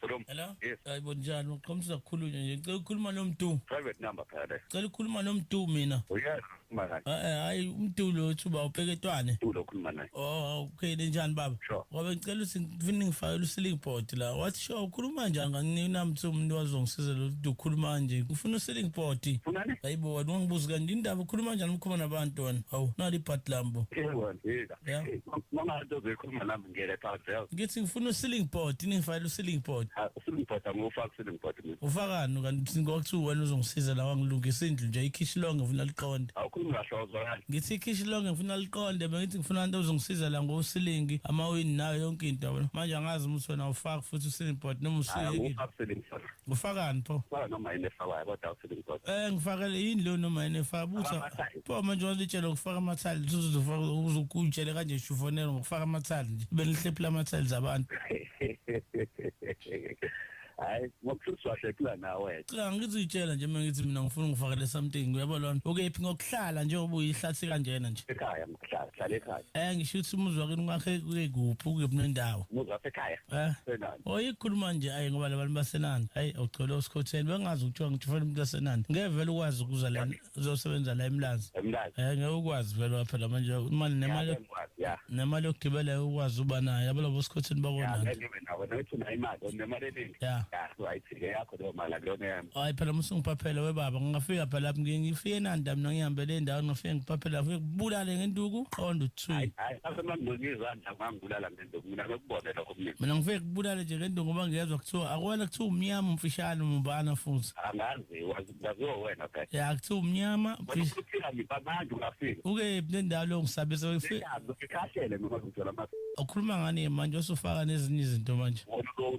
Hello. Hello. Yes. Hayibo njani uqhomisa kukhulunywa nje. Ngicela ukukhuluma nomdu. Private number phela le. Ngicela ukukhuluma nomdu mina. Uyazi uma naye. Eh, eh, Hayi umdu lo uthi uba upeketwane. Ulo ukhuluma naye. Oh, okay njani baba? Sure. Ngoba ngicela uthi ngifuna ngifakele uceiling board la. Wathi sure ukhuluma njani nganginamthi umuntu wazongisiza lo uthi ukhuluma nje. Ngifuna uceiling board. Funani? Hayibo wena ungibuza kanti indaba ukhuluma kanjani ukhuluma nabantu wena? Hawu, nali ibhadi lambo. Eh wena. Yeah. Mama nto zoyikhuluma nami. ngiyele Parkdale ngithi ngifuna uceiling board ningifakele uceiling board Ah, uceiling board angufaki uceiling board mina ufakani kanti ngokuthiwa wena uzongisiza la wangilungisa indlu nje ikhishi lonke ngifuna liqonde awukhulumi kahle awuzwakali ngithi ikhishi lonke ngifuna liqonde bengithi ngifuna abantu ozongisiza la ngosilingi amawini nayo yonke into yabona manje angazi ukuthi wena ufaki futhi uceiling board noma hayi usiyekile angufaki uceiling board ufakani pho faka noma yini efawayo kodwa uceiling board eh ngifakele yini leyo noma yini efa butha Abamasa- Pho manje walitshela ukufaka amathali uzofaka uzokutshele kanje shufonela ngokufaka amathali nje benihlephula amathali zabantu. hayi ngokuhluthwa hlephula nawe cha ngithi itshela nje mina ngithi mina ngifuna ngifakele something uyabo lona ukephi ngokuhlala nje ubuyihlathi kanjena nje ekhaya ngokuhlala hlala ekhaya eh ngisho ukuthi umuzwa kini kwakhe kuyekuphi ukephi nendawo umuzwa ekhaya eh senani oyikhuluma oh, nje ayi ngoba labantu basenani hayi ugcwele osikhotheni bengazi ukuthiwa ngithufela umuntu wasenani ngevele ukwazi ukuza la uzosebenza la emlazi emlazi eh ngeke ukwazi vele phela manje imali nemali ya nemali yokugibela ukwazi uba nayo yabona bosikhothini bakona ya ngibe nawe nothi na imali nemali eningi ya right ke yakho leyo mali akuyona yami hayi phela musungiphaphele we baba ngingafika phela lapho ngifike nanda mina ngihambele endaweni ngifike ngiphaphela ngifike kubulale ngenduku qonda uthi hayi hayi asemangizwa nda ngangibulala ngenduku mina ngikubone lokho mina mina ngifike kubulale nje ngenduku ngoba ngiyezwa kuthiwa akwela kuthiwa umnyama umfishane umbana futhi angazi wazi Yaziwa wena guys. Ya kuthiwa umnyama. Ukhulisa nje abantu bafika. Uke nendawo lo ngisabisa wefe. Ngikhahlele noma ngithola ama. Ukhuluma ngani manje usufaka nezinye izinto manje.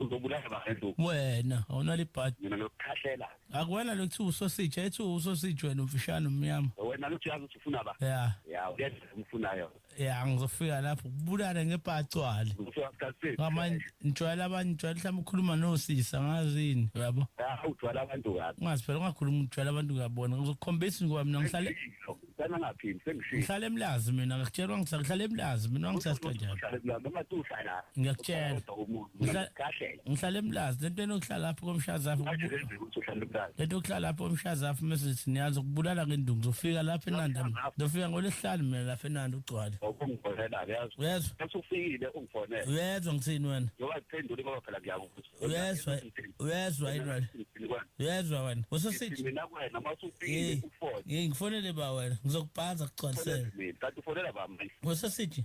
Uzobulala abantu. Wena awunali bhadi. Mina lokukhahlela. Akuwena lokuthiwa usositsha ethi usositsha wena umfishane umnyama. Wena lokuthi yazi usufuna ba. Ya. Ya uyenza umfunayo. ya ngizofika lapho kubulale ngepacwale ngamanye ngijwayela abanye ngijwayela mhlawumbe ukhuluma nosisa ngazini uyabo ujwayela abantu kabi ungazi phela ungakhuluma ujwayela abantu kabona ngizokukhombisa ngoba mina ngihlale ngihlale emlazi mina ngikutshelwa ngihlale emlazi mina ngisasikajani ngiyakutshela ngihlala emlazi lento enokuhlala lapho komshazapho lento okuhlala lapho komshazapho mesithi niyazi ukubulala ngenduku ngizofika lapho enanda ngizofika ngolesihlanu mina lapho enanda ugcwale uyezwa ngithini wena uyezwa uyezwa yini wena uyezwa wena usosithi ngifonele ba wena ngizokubhanza kugcwalisele usosithi